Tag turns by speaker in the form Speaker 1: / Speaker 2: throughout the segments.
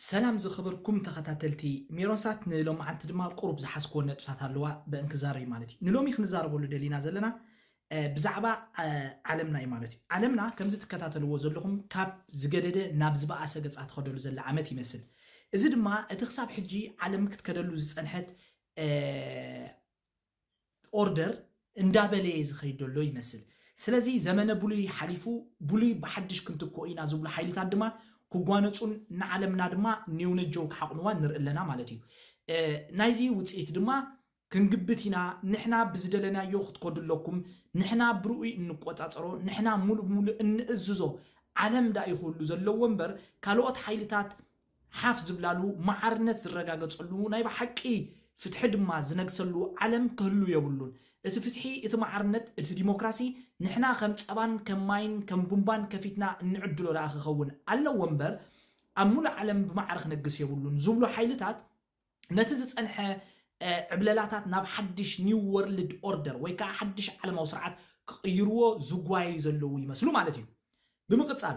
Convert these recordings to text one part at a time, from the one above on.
Speaker 1: ሰላም ዝከበርኩም ተከታተልቲ ሜሮን ሳት ንሎምዓንቲ ድማ ቁሩብ ዝሓዝክወን ነጥብታት ኣለዋ በእን ክዛረብዩ ማለት እዩ ንሎሚ ክንዛረበሉ ደሊና ዘለና ብዛዕባ ዓለምና እዩ ማለት እዩ ዓለምና ከምዚ ትከታተልዎ ዘለኹም ካብ ዝገደደ ናብ ዝበኣሰ ገጻ ትከደሉ ዘላ ዓመት ይመስል እዚ ድማ እቲ ክሳብ ሕጂ ዓለም ክትከደሉ ዝጸንሐት ኦርደር እንዳበለየ ዝኸይድ ዘሎ ይመስል። ስለዚ ዘመነ ብሉይ ሓሊፉ ብሉይ ብሓድሽ ክንትክኦ ኢና ዝብሉ ሓይልታት ድማ ክጓነጹን ንዓለምና ድማ ኔውነጀው ክሓቑኑዋን ንርኢ ኣለና ማለት እዩ። ናይዚ ውጽኢት ድማ ክንግብት ኢና፣ ንሕና ብዝደለናዮ ክትከዱ ኣለኩም፣ ንሕና ብርኡይ እንቆጻጸሮ፣ ንሕና ሙሉእ ብሙሉእ እንእዝዞ ዓለም ዳእዩ ክብሉ ዘለዎ እምበር ካልኦት ሓይልታት ሓፍ ዝብላሉ፣ ማዕርነት ዝረጋገጸሉ፣ ናይ ብሓቂ ፍትሒ ድማ ዝነግሰሉ ዓለም ክህሉ የብሉን። እቲ ፍትሒ፣ እቲ ማዕርነት፣ እቲ ዲሞክራሲ ንሕና ከም ጸባን ከም ማይን ከም ቡምባን ከፊትና እንዕድሎ ደኣ ክኸውን ኣለዎ'ምበር ኣብ ምሉእ ዓለም ብማዕረ ክነግስ የብሉን ዝብሉ ሓይልታት፣ ነቲ ዝጸንሐ ዕብለላታት ናብ ሓድሽ ኒው ወርልድ ኦርደር ወይ ከኣ ሓድሽ ዓለማዊ ስርዓት ክቕይርዎ ዝጓየዩ ዘለዉ ይመስሉ ማለት እዩ። ብምቕጻል፣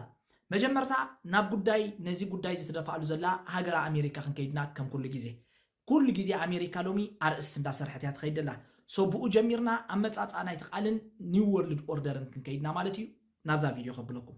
Speaker 1: መጀመርታ ናብ ጉዳይ ነዚ ጉዳይ እዚ ትደፍኣሉ ዘላ ሃገረ ኣሜሪካ ክንከይድና ከም ኩሉ ግዜ። ኩሉ ግዜ ኣሜሪካ ሎሚ ኣርእስት እንዳሰርሐት እያ ትኸይድ ዘላ። ሶ ብኡ ጀሚርና ኣመጻጽኣ ናይቲ ቃልን ኒው ወርልድ ኦርደርን ክንከይድና ማለት እዩ ናብዛ ቪድዮ ከብለኩም።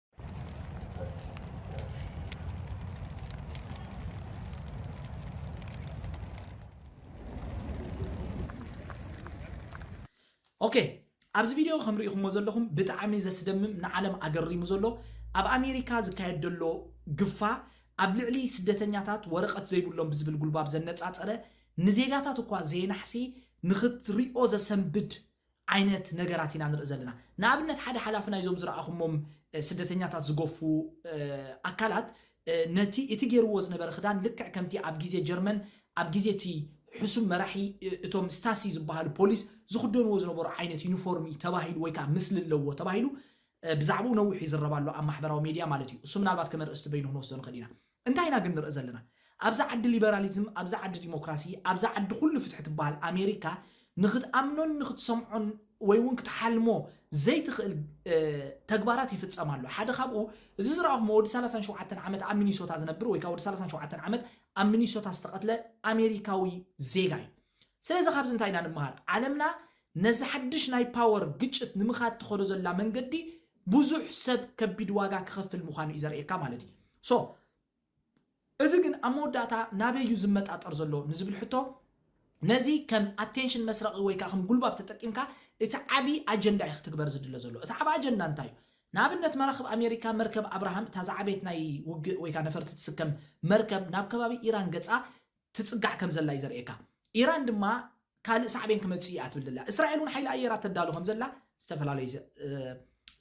Speaker 1: ኦኬ ኣብዚ ቪድዮ ከም ርኢኹሞ ዘለኹም ብጣዕሚ ዘስደምም ንዓለም ኣገሪሙ ዘሎ ኣብ ኣሜሪካ ዝካየድ ዘሎ ግፋ ኣብ ልዕሊ ስደተኛታት ወረቐት ዘይብሎም ብዝብል ጉልባብ ዘነፃፀረ ንዜጋታት እኳ ዘየናሕሲ ንኽትሪኦ ዘሰንብድ ዓይነት ነገራት ኢና ንርኢ ዘለና። ንኣብነት ሓደ ሓላፊ ናይዞም ዝረኣኹሞም ስደተኛታት ዝገፉ ኣካላት ነቲ እቲ ጌርዎ ዝነበረ ክዳን ልክዕ ከምቲ ኣብ ግዜ ጀርመን ኣብ ግዜ እቲ ሕሱም መራሒ እቶም ስታሲ ዝበሃሉ ፖሊስ ዝኽደንዎ ዝነበሩ ዓይነት ዩኒፎርም እዩ ተባሂሉ ወይ ከዓ ምስሊ ኣለዎ ተባሂሉ ብዛዕባኡ ነዊሕ ይዝረብ ኣሎ ኣብ ማሕበራዊ ሜድያ ማለት እዩ። እሱ ምናልባት ከም ኣርእስቲ በይኑ ክንወስዶ ንኽእል ኢና። እንታይ ኢና ግን ንርኢ ዘለና ኣብዛ ዓዲ ሊበራሊዝም ኣብዛ ዓዲ ዲሞክራሲ ኣብዛ ዓዲ ኩሉ ፍትሒ ትበሃል ኣሜሪካ ንኽትኣምኖን ንኽትሰምዖን ወይ እውን ክትሓልሞ ዘይትኽእል ተግባራት ይፍፀም ኣሎ ሓደ ካብኡ እዚ ዝረኣኹሞ ወዲ ሰላሳን ሸውዓተን ዓመት ኣብ ሚኒሶታ ዝነብር ወይ ከዓ ወዲ ሰላሳን ሸውዓተን ዓመት ኣብ ሚኒሶታ ዝተቐትለ ኣሜሪካዊ ዜጋ እዩ ስለዚ ካብዚ እንታይ ኢና ንመሃር? ዓለምና ነዚ ሓድሽ ናይ ፓወር ግጭት ንምኻድ ትኸዶ ዘላ መንገዲ ብዙሕ ሰብ ከቢድ ዋጋ ክኸፍል ምዃኑ እዩ ዘርእየካ ማለት እዩ። so እዚ ግን ኣብ መወዳእታ ናበይ እዩ ዝመጣጠር ዘሎ ንዝብል ሕቶ ነዚ ከም ኣቴንሽን መስረቒ ወይ ከዓ ከም ጉልባብ ተጠቂምካ እቲ ዓብዪ ኣጀንዳ እዩ ክትግበር ዝድለ ዘሎ። እቲ ዓብ ኣጀንዳ እንታይ እዩ? ንኣብነት መራኽብ ኣሜሪካ መርከብ ኣብርሃም እታ ዝዓበየት ናይ ውግእ ወይ ከዓ ነፈርቲ ትስከም መርከብ ናብ ከባቢ ኢራን ገፃ ትጽጋዕ ከም ዘላ እዩ ዘርእየካ። ኢራን ድማ ካልእ ሳዕቤን ክመጽእ እዩ እያ ትብል ዘላ። እስራኤል እውን ሓይሊ ኣየራ ተዳሉ ከም ዘላ ዝተፈላለዩ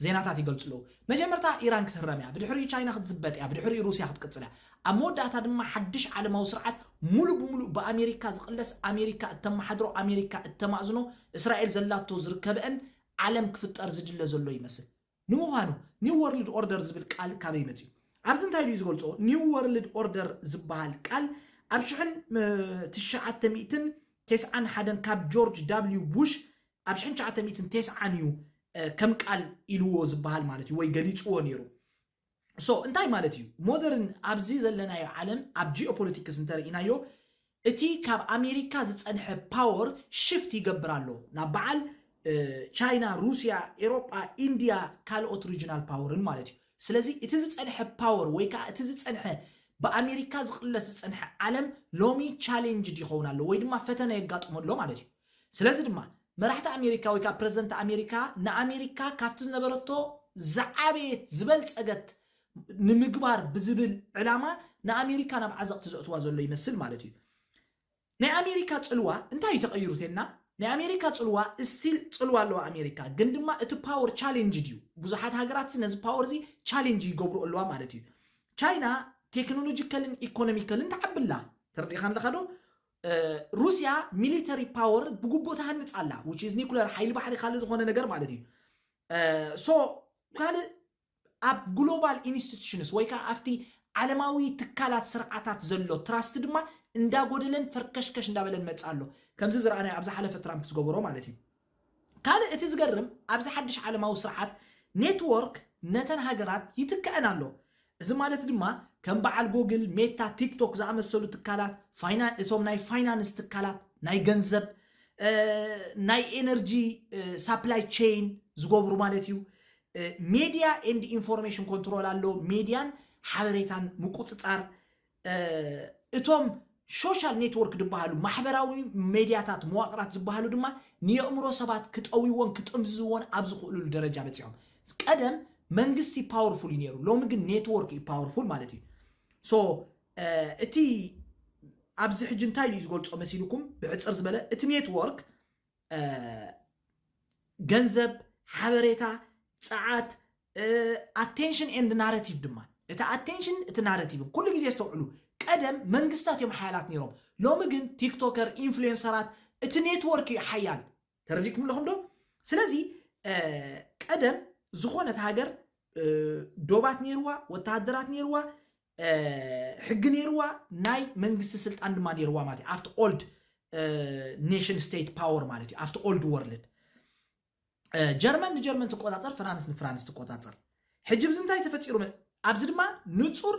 Speaker 1: ዜናታት ይገልጹ ኣለዉ። መጀመርታ ኢራን ክትህረም እያ፣ ብድሕሪኡ ቻይና ክትዝበጥ እያ፣ ብድሕሪኡ ሩስያ ክትቅጽል እያ። ኣብ መወዳእታ ድማ ሓድሽ ዓለማዊ ስርዓት ሙሉእ ብሙሉእ ብኣሜሪካ ዝቕለስ፣ ኣሜሪካ እተመሓድሮ፣ ኣሜሪካ እተማእዝኖ፣ እስራኤል ዘላቶ ዝርከበእን ዓለም ክፍጠር ዝድለ ዘሎ ይመስል። ንምዃኑ ኒው ወርልድ ኦርደር ዝብል ቃል ካበይ መጺኡ? ኣብዚ እንታይ ድዩ ዝገልጾ? ኒው ወርልድ ኦርደር ዝበሃል ቃል ኣብ ሽሕን ትሽዓተ ሚእትን ቴስዓን ሓደን ካብ ጆርጅ ዳብሊው ቡሽ ኣብ ሽሕን ትሽዓተ ሚእትን ቴስዓን እዩ ከም ቃል ኢልዎ ዝበሃል ማለት እዩ ወይ ገሊጽዎ ነይሩ። so እንታይ ማለት እዩ ሞደርን ኣብዚ ዘለናዮ ዓለም ኣብ ጂኦፖለቲክስ እንተርኢናዮ እቲ ካብ ኣሜሪካ ዝፀንሐ ፓወር ሽፍት ይገብር ኣሎ ናብ በዓል ቻይና ሩስያ ኤሮጳ ኢንድያ ካልኦት ሪጅናል ፓወርን ማለት እዩ ስለዚ እቲ ዝፀንሐ ፓወር ወይ ከዓ እቲ ዝፀንሐ ብኣሜሪካ ዝቕለስ ዝፀንሐ ዓለም ሎሚ ቻሌንጅድ ይኸውን ኣሎ ወይ ድማ ፈተነ የጋጥሞ ኣሎ ማለት እዩ ስለዚ ድማ መራሕቲ ኣሜሪካ ወይ ከኣ ፕረዚደንት ኣሜሪካ ንኣሜሪካ ካብቲ ዝነበረቶ ዝዓበየት ዝበልጸገት ንምግባር ብዝብል ዕላማ ንኣሜሪካ ናብ ዓዘቕቲ ዘእትዋ ዘሎ ይመስል ማለት እዩ። ናይ ኣሜሪካ ጽልዋ እንታይ እዩ ተቐይሩ ተልና ናይ ኣሜሪካ ጽልዋ ስቲል ጽልዋ ኣለዋ ኣሜሪካ ግን ድማ እቲ ፓወር ቻሌንጅ ድዩ ብዙሓት ሃገራት ነዚ ፓወር እዚ ቻሌንጅ ይገብሩ ኣለዋ ማለት እዩ ቻይና ቴክኖሎጂካልን ኢኮኖሚካልን ተዓብላ ተረዲእካ ኣለካ ዶ ሩስያ ሚሊተሪ ፓወር ብግቡእ ትሃንፅ ኣላ which is ኒኩለር ሓይሊ ባሕሪ ካልእ ዝኾነ ነገር ማለት እዩ ሶ ካልእ ኣብ ግሎባል ኢንስቲቱሽንስ ወይ ከዓ ኣብቲ ዓለማዊ ትካላት ስርዓታት ዘሎ ትራስት ድማ እንዳጎደለን ፈርከሽከሽ እንዳበለን መፅእ ኣሎ ከምዚ ዝረኣናዮ ኣብ ዝሓለፈ ትራምፕ ዝገበሮ ማለት እዩ ካልእ እቲ ዝገርም ኣብዚ ሓድሽ ዓለማዊ ስርዓት ኔትዎርክ ነተን ሃገራት ይትከኣን ኣሎ። እዚ ማለት ድማ ከም በዓል ጎግል፣ ሜታ፣ ቲክቶክ ዝኣመሰሉ ትካላት፣ እቶም ናይ ፋይናንስ ትካላት፣ ናይ ገንዘብ፣ ናይ ኤነርጂ ሳፕላይ ቼይን ዝገብሩ ማለት እዩ። ሜድያ ኤንድ ኢንፎርሜሽን ኮንትሮል ኣሎ፣ ሜድያን ሓበሬታን ምቁጽጻር እቶም ሾሻል ኔትወርክ ድበሃሉ ማሕበራዊ ሜድያታት መዋቕራት ዝበሃሉ ድማ ንየእምሮ ሰባት ክጠውይዎን ክጥምዝዝዎን ኣብ ዝኽእሉሉ ደረጃ በፂሖም ቀደም መንግስቲ ፓወርፉል እዩ ነይሩ ሎሚ ግን ኔትወርክ እዩ ፓወርፉል ማለት እዩ ሶ እቲ ኣብዚ ሕጂ እንታይ ኢሉ እዩ ዝገልፆ መሲልኩም ብሕፅር ዝበለ እቲ ኔትወርክ ገንዘብ ሓበሬታ ፀዓት ኣቴንሽን ኤንድ ናረቲቭ ድማ እቲ ኣቴንሽን እቲ ናረቲቭን ኩሉ ግዜ ኣስተውዕሉ ቀደም መንግስታት እዮም ሓያላት ነይሮም ሎሚ ግን ቲክቶከር ኢንፍሉዌንሰራት እቲ ኔትወርክ እዩ ሓያል ተረዲእኩም ኣለኹም ዶ ስለዚ ቀደም ዝኾነት ሃገር ዶባት ነይርዋ ወተሃደራት ነይርዋ ሕጊ ነይርዋ ናይ መንግስቲ ስልጣን ድማ ነይርዋ ማለት እዩ ኣብቲ ኦልድ ኔሽን ስቴት ፓወር ማለት እዩ ኣብቲ ኦልድ ወርልድ ጀርመን ንጀርመን ትቆጻጸር፣ ፍራንስ ንፍራንስ ትቆጻጸር። ሕጂ ብዚ እንታይ ተፈጢሩ? ኣብዚ ድማ ንጹር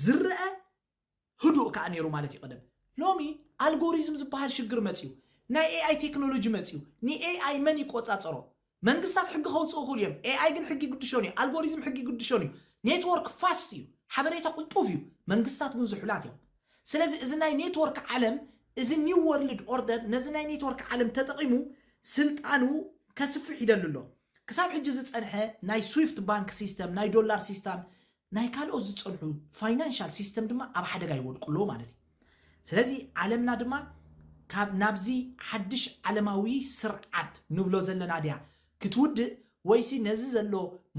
Speaker 1: ዝረአ ህዱእ ከዓ ነይሩ ማለት እዩ ቀደም። ሎሚ ኣልጎሪዝም ዝበሃል ሽግር መፅዩ፣ ናይ ኤኣይ ቴክኖሎጂ መፅዩ። ንኤኣይ መን ይቆጻጸሮ? መንግስታት ሕጊ ከውፅኡ ይኽእሉ እዮም። ኤኣይ ግን ሕጊ ግድሾን እዩ። ኣልጎሪዝም ሕጊ ግድሾን እዩ። ኔትወርክ ፋስት እዩ፣ ሓበሬታ ቁልጡፍ እዩ። መንግስታት ግን ዝሑላት እዮም። ስለዚ እዚ ናይ ኔትወርክ ዓለም እዚ ኒው ወርልድ ኦርደር ነዚ ናይ ኔትወርክ ዓለም ተጠቒሙ ስልጣኑ ከስፍሕ ይደሊ ኣሎ። ክሳብ ሕጂ ዝጸንሐ ናይ ስዊፍት ባንክ ሲስተም፣ ናይ ዶላር ሲስታም፣ ናይ ካልኦት ዝጸንሑ ፋይናንሻል ሲስተም ድማ ኣብ ሓደጋ ይወድቁ ኣለዉ ማለት እዩ። ስለዚ ዓለምና ድማ ካብ ናብዚ ሓድሽ ዓለማዊ ስርዓት ንብሎ ዘለና ድያ ክትውድእ ወይሲ ነዚ ዘሎ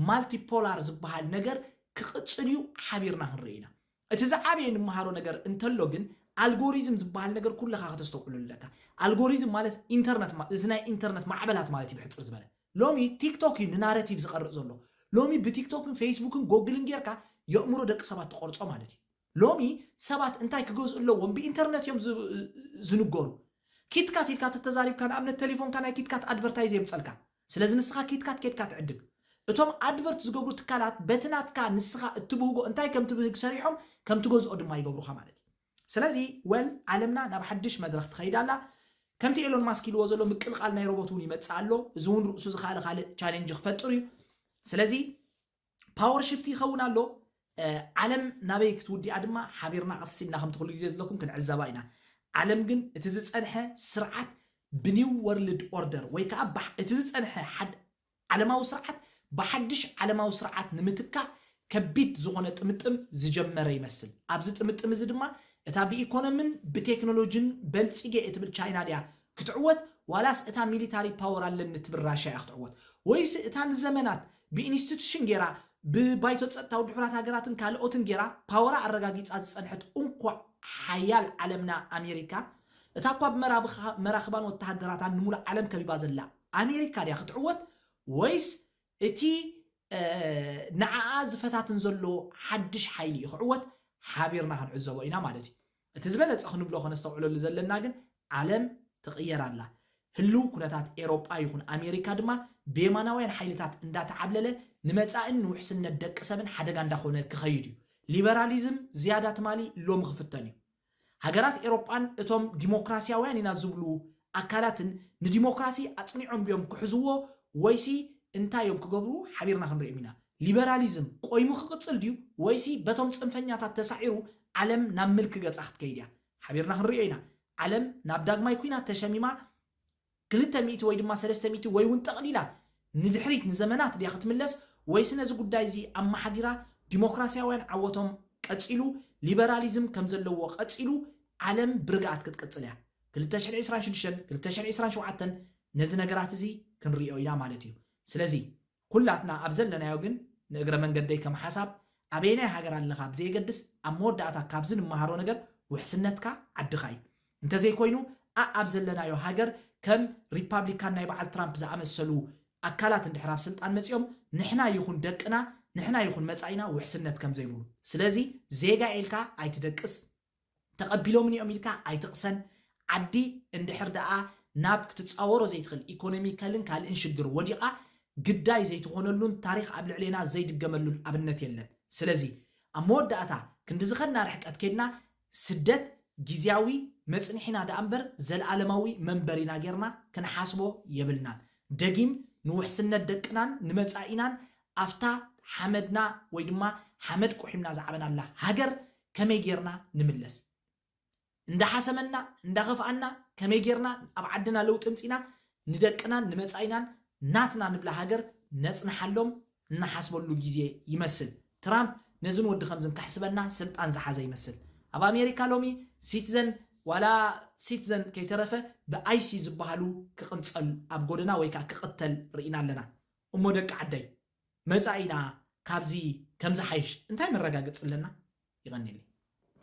Speaker 1: ማልቲፖላር ዝበሃል ነገር ክቕጽል እዩ ሓቢርና ክንርኢ ኢና። እቲ ዝዓበየ ንመሃሮ ነገር እንተሎ ግን ኣልጎሪዝም ዝበሃል ነገር ኩልኻ ከተስተውዕለሉ ኣለካ። ኣልጎሪዝም ማለት ኢንተርነት ማ እዚ ናይ ኢንተርነት ማዕበላት ማለት እዩ ብሕጽር ዝበለ። ሎሚ ቲክቶክ እዩ ንናረቲቭ ዝቐርጽ ዘሎ። ሎሚ ብቲክቶክን ፈይስቡክን ጎግልን ጌርካ የእምሮ ደቂ ሰባት ትቐርጾ ማለት እዩ። ሎሚ ሰባት እንታይ ክገዝኡ ኣለዎም ብኢንተርነት እዮም ዝ ዝንገሩ። ኪትካት ኢልካ ተተዛሪብካ ንኣብነት ተሌፎንካ ናይ ኪትካት ኣድቨርታይዝ የምጸልካ። ስለዚ ንስኻ ኪትካ ትኬድካ ትዕድግ። እቶም ኣድቨርት ዝገብሩ ትካላት በቲ ናትካ ንስኻ እትብህጎ እንታይ ከም ትብህግ ሰሪሖም ከም ትገዝኦ ድማ ይገብሩኻ ማለት እዩ። ስለዚ well ዓለምና ናብ ሓድሽ መድረኽ ትኸይድ ኣላ። ከምቲ ኤሎን ማስክ ኢልዎ ዘሎ ምቅልቓል ናይ ሮቦት እውን ይመጽእ ኣሎ። እዚ እውን ርእሱ ዝኸኣለ ካልእ ቻሌንጅ ክፈጥር እዩ። ስለዚ። ፓወር ሽፍቲ ይኸውን ኣሎ ዓለም ናበይ ክትውዲኣ ድማ ሓቢርና ቀስ ኢልና ከምቲ ኩሉ ግዜ ዝለኩም ክንዕዘባ ኢና ዓለም ግን እቲ ዝፀንሐ ስርዓት ብኒው ወርልድ ኦርደር ወይ ከዓ እቲ ዝፀንሐ ዓለማዊ ስርዓት ብሓድሽ ዓለማዊ ስርዓት ንምትካእ ከቢድ ዝኾነ ጥምጥም ዝጀመረ ይመስል ኣብዚ ጥምጥም እዚ ድማ እታ ብኢኮኖምን ብቴክኖሎጂን በልፂጌ እትብል ቻይና ድያ ክትዕወት ዋላስ እታ ሚሊታሪ ፓወር ኣለኒ ትብል ራሻ እያ ክትዕወት ወይሲ እታ ንዘመናት ብኢንስቲቱሽን ጌራ ብባይቶ ጸጥታ ውድብ ሕቡራት ሃገራትን ካልኦትን ጌራ ፓወራ ኣረጋጊጻ ዝጸንሐት እንኮ ሓያል ዓለምና ኣሜሪካ እታ እኳ ብመራኽባን ወተሃደራታን ንሙሉእ ዓለም ከቢባ ዘላ ኣሜሪካ ድያ ክትዕወት ወይስ እቲ ንዓኣ ዝፈታትን ዘሎ ሓድሽ ሓይሊ እዩ ክዕወት ሓቢርና ክንዕዘቦ ኢና ማለት እዩ። እቲ ዝበለጸ ክንብሎ ከነስተውዕለሉ ዘለና ግን ዓለም ትቕየር ኣላ። ህልው ኩነታት ኤሮጳ ይኹን ኣሜሪካ ድማ ብየማናውያን ሓይልታት እንዳተዓብለለ ንመጻእን ንውሕስነት ደቂ ሰብን ሓደጋ እንዳኾነ ክኸይድ እዩ። ሊበራሊዝም ዝያዳ ትማሊ ሎሚ ክፍተን እዩ። ሃገራት ኤሮጳን እቶም ዲሞክራሲያውያን ኢና ዝብሉ ኣካላትን ንዲሞክራሲ ኣጽኒዖም ድዮም ክሕዝዎ ወይሲ እንታይ እዮም ክገብሩ ሓቢርና ክንሪኦም ኢና። ሊበራሊዝም ቆይሙ ክቕጽል ድዩ ወይሲ በቶም ጽንፈኛታት ተሳዒሩ ዓለም ናብ ምልኪ ገጻ ክትከይድ እያ? ሓቢርና ክንርእዮ ኢና። ዓለም ናብ ዳግማይ ኲናት ተሸሚማ ክልተ ሚእቲ ወይ ድማ ሰለስተ ሚእቲ ወይ'ውን ጠቕሊላ ንድሕሪት ንዘመናት ድያ ክትምለስ ወይሲ ነዚ ጉዳይ'ዚ ኣመሓዲራ ዲሞክራስያውያን ዓወቶም ቀጺሉ ሊበራሊዝም ከም ዘለዎ ቀጺሉ ዓለም ብርግኣት ክትቅጽል እያ። ክልተ ሽሕን ዕስራን ሽዱሽተን ክልተ ሽሕን ዕስራን ሸውዓተን ነዚ ነገራት'ዚ ክንርእዮ ኢና ማለት እዩ። ስለዚ ኩላትና ኣብ ዘለናዮ ግን ንእግረ መንገደይ ከም ሓሳብ ኣበየናይ ሃገር ኣለኻ ብዘየገድስ ኣብ መወዳእታ ካብዚ ንመሃሮ ነገር ውሕስነትካ ዓድኻ እዩ እንተዘይኮይኑ ኣእ ኣብ ዘለናዮ ሃገር ከም ሪፓብሊካን ናይ በዓል ትራምፕ ዝኣመሰሉ ኣካላት እንድሕር ኣብ ስልጣን መጺኦም ንሕና ይኹን ደቅና ንሕና ይኹን መጻኢና ውሕስነት ከምዘይብሉ ስለዚ ዜጋ ኢልካ ኣይትደቅስ ተቐቢሎምኒ እዮም ኢልካ ኣይትቕሰን። ዓዲ እንድሕር ደኣ ናብ ክትጻወሮ ዘይትኽእል ኢኮኖሚካልን ካልእን ሽግር ወዲቓ ግዳይ ዘይትኾነሉን ታሪኽ ኣብ ልዕሌና ዘይድገመሉን ኣብነት የለን። ስለዚ ኣብ መወዳእታ ክንዲ ዝኸድና ርሕቀት ኬድና ስደት ጊዝያዊ መጽንሒና ደኣ እምበር ዘልኣለማዊ መንበሪና ጌርና ክንሓስቦ የብልናን። ደጊም ንውሕስነት ደቅናን ንመጻኢናን ኣብታ ሓመድና ወይ ድማ ሓመድ ቁሒምና ዝዓበናላ ሃገር ከመይ ጌርና ንምለስ እንዳሓሰመና እንዳኸፍኣና ከመይ ጌርና ኣብ ዓድና ለውጢ ኣምጺና ንደቅናን ንመጻኢናን ናትና ንብላ ሃገር ነጽንሓሎም እንሓስበሉ ግዜ ይመስል ትራምፕ ነዝን ወዲ ከምዝን ከሕስበና ስልጣን ዝሓዘ ይመስል ኣብ ኣሜሪካ ሎሚ ሲትዘን ዋላ ሲትዘን ከይተረፈ ብኣይሲ ዝበሃሉ ክቕንጸል ኣብ ጎደና ወይ ከዓ ክቕተል ርኢና ኣለና እሞ ደቂ ዓደይ መጻኢና ካብዚ ከምዝሓይሽ እንታይ መረጋገጺ ኣለና? የቐኔለይ።